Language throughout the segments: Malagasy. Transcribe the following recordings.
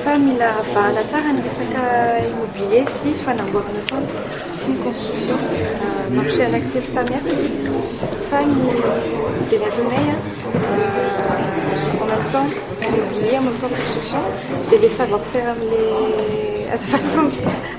fa mila avahana tsara ny resaka immobilier sy fanamboarana trano sy ny construction marché anankitelo samy hafa fa ny teny atonay en même temps immobilier en même temps construction dia le savoir faire amin'le azafady fa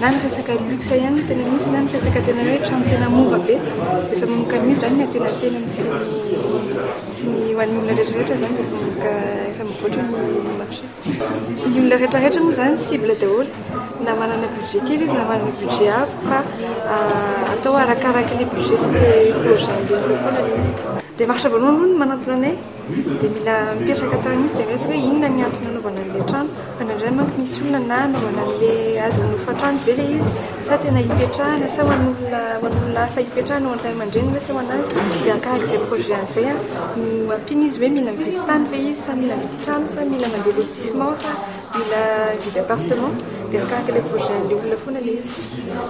Na ny resaka luxe ihany no tena misy na ny resaka tena hoe trano tena mora be. Efa manomboka misy izany ny antenantenany sy ny sy ny ho an'ny olona rehetrarehetra izany dia manomboka efa mivoatra ny marché. Ny olona rehetrarehetra moa izany cible daholo na manana budget kely izy na manana budget avo fa atao arakaraky le budget sy le projet ambolena foana ilay izy. Démarche voalohany aloha ny manantona anay. Dia mila mipetraka tsara mihitsy dia resy hoe inona ny antony nanaovana an'ilay trano. Fa indraindray manko misy olona na hanaovana an'ilay azy hofan-trano ve ilay izy sa tena hipetrahana sa ho an'olona ho an'olona hafa hipetrahana, ho an'ny ray aman-dreniny ve sa ho an'azy. Dia arakaraka izay projet an'izay no ampiana izy hoe mila mividy tany ve izy sa mila mividy trano sa mila mandeha lotissement sa mila mividy appartement. Dia arakaraka ilay projet an'ilay olona foana ilay izy.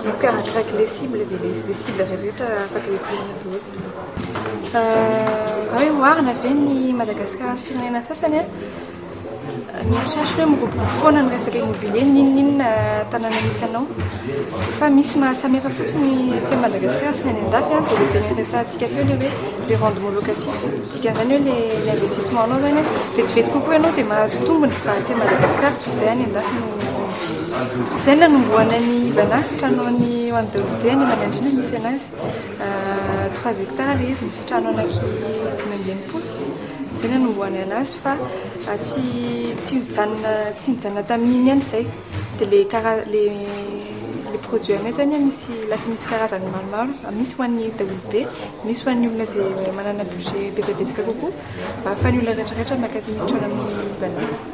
Donc arakaraka ilay cible dia ilay cible rehetra afaka hiverenana daholo. Raha hoe oharina ve ny Madagasikara amin'ny firenena sasany? Ny eritreritrako hoe miroborobo foana ny resaka immobilier n'inon'inona tanàna misy anao. Fa misy ny mahasamy hafa fotsiny ny aty Madagasikara sy ny any an-dafy dia ilay izay niresahantsika teo ilay hoe le rendement locatif. Dikan'izany hoe ilay investissement-nao izany vetivety kokoa ianao dia mahazo tombony raha aty Madagasikara toy izay any an-dafy no mividy. Izay no nanombohana an'i Ivanahy, trano an'i Andry Nirinteny, any Manandriana no nisy an'azy. Trois hectares ilay izy, misy trano anaky dimy amby enimpolo, izay ny nanombohana azy fa tsy tsy nijanona tsy nijanona tamin'iny ihany izay dia ilay kara- ilay ilay produit anay izany an misy lasa misy karazany maromaro fa misy ho an'ny daholobe, misy ho an'ny olona izay manana budget betsabetsaka kokoa mba ahafahan'ny olona rehetra rehetra maka ny trano amin'ny vidiny.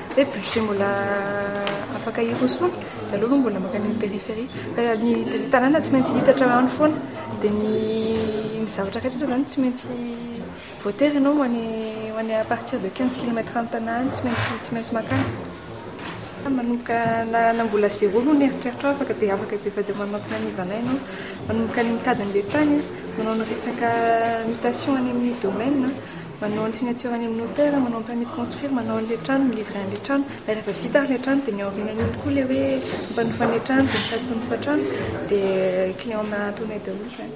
Hoe budget mbola afaka hirosoana dia aleo aloha mbola mankany amin'ny périphérie. Fa ny tanàna tsy maintsy hita hatramin'izany foana. Dia ny ny zavatra rehetra aloha izany tsy maintsy voatery ianao ho any ho any à partir de quinze kilomètres any Tana any tsy maintsy tsy maintsy mankany. Fa manomboka na na mbola zéro aloha ny eritreritrao afaka dia afaka dia efa dia manantona an'i Ivana ianao. Manomboka ny mitady an'ilay tany, manao ny resaka mutation any amin'ny domaine. Manao ny signature any amin'ny notaire, manao ny permis de construire, manao an'ilay trano, mi-livrer an'ilay trano. Dia rehefa vita ary ilay trano dia ny aorianan'iny koa ilay hoe mpanofa an'ilay trano dia sady mpanofa trano dia client-na antonay daholo izany.